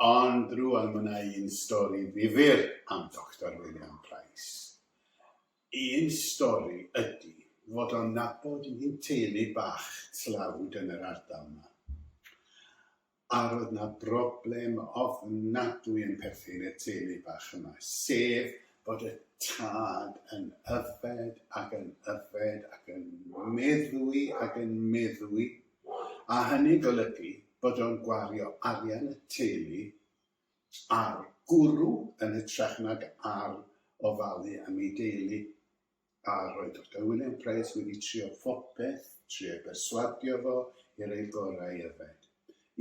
Ond rwan mae yna un stori ddifyr am Doctor William Price. Un stori ydy fod o'n nabod un teulu bach tlawd yn yr ardal 'ma. a roedd 'na broblem ofnadwy yn perthyn i'r teulu bach yma, sef bod y tad yn yfed ac yn yfed ac yn meddwi ac yn meddwi, a hynny'n golygu bod o'n gwario arian y teulu ar gwrw yn hytrach nag ar ofalu am ei deulu. A roedd Doctor William Price wedi trio phopeth, trio perswadio fo i roi gorau i yfed.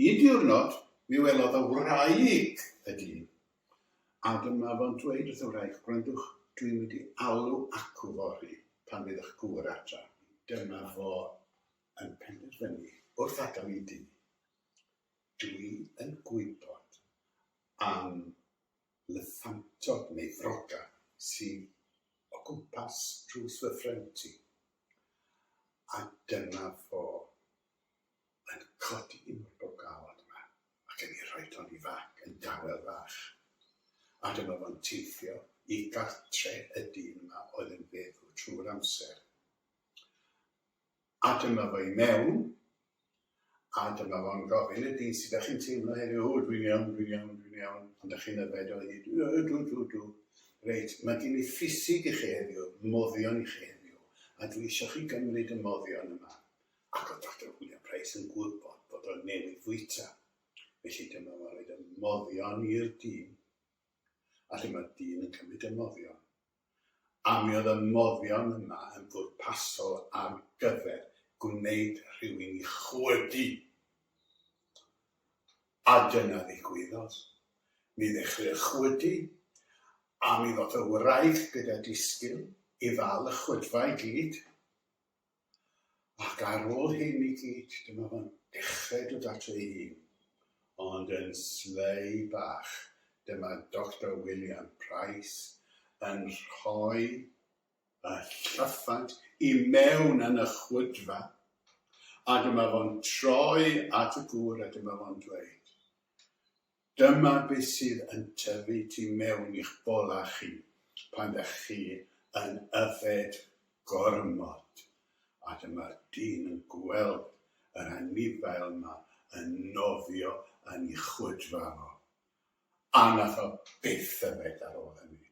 Un diwrnod, mi welodd y wraig y dyn, a dyma fo'n dweud wrth y wraig, gwrandwch, dwi'n mynd i alw acw fory pan fydd ych gŵr adra. Dyma fo yn penderfynu wrth adael i dŷ, dwi yn gwybod am Llyffantod neu froga sydd o gwmpas drws fy ffrind i, a dyna fo yn codi un o'r bogawod yma ac yn ei rhoid o yn ei fag yn dawel fach, a dyma fo'n teithio i gartre' y dyn yma oedd yn feddw trwy'r amser. A dyma fo i mewn, a dyma fo'n gofyn, ydi, sut dach chi'n teimlo heddiw? O, dwi'n iawn, dwi'n iawn, dwi'n iawn. Ond dach chi'n yfed o hyd? O, ydw, ydw, ydw. Reit, mae gen i ffisig i chi heddiw, moddion i chi heddiw, a dwi eisiau chi gymryd y moddion yma. Ac oedd Doctor William Price yn gwybod bod o newydd fwyta. Felly dyma fo'n rhoi y moddion i'r dyn, a dyma'r dyn yn cymryd y moddion. a mi oedd y moddion yma yn bwrpasol ar gyfer gwneud rhywun i chwydu. A dyna ddigwyddodd. Mi ddechreu'r chwydu, a mi ddoth y wraig gyda disgyn i ddal y chwydfa i gyd. ac ar ôl hyn i gyd, dyma fo'n dechrau dod ato ei hun, ond yn slei bach, dyma Doctor William Price yn rhoi y llyffant i mewn yn y chwydfa, a dyma fo'n troi at y gŵr a dyma fo'n dweud, Dyma beth sydd yn tyfu tu mewn i'ch bola chi pan dach chi yn yfed gormod, a dyma'r dyn yn gweld yr anifail 'ma yn nofio yn ei chwydfa fo, a nath o byth yfed ar ôl hynny.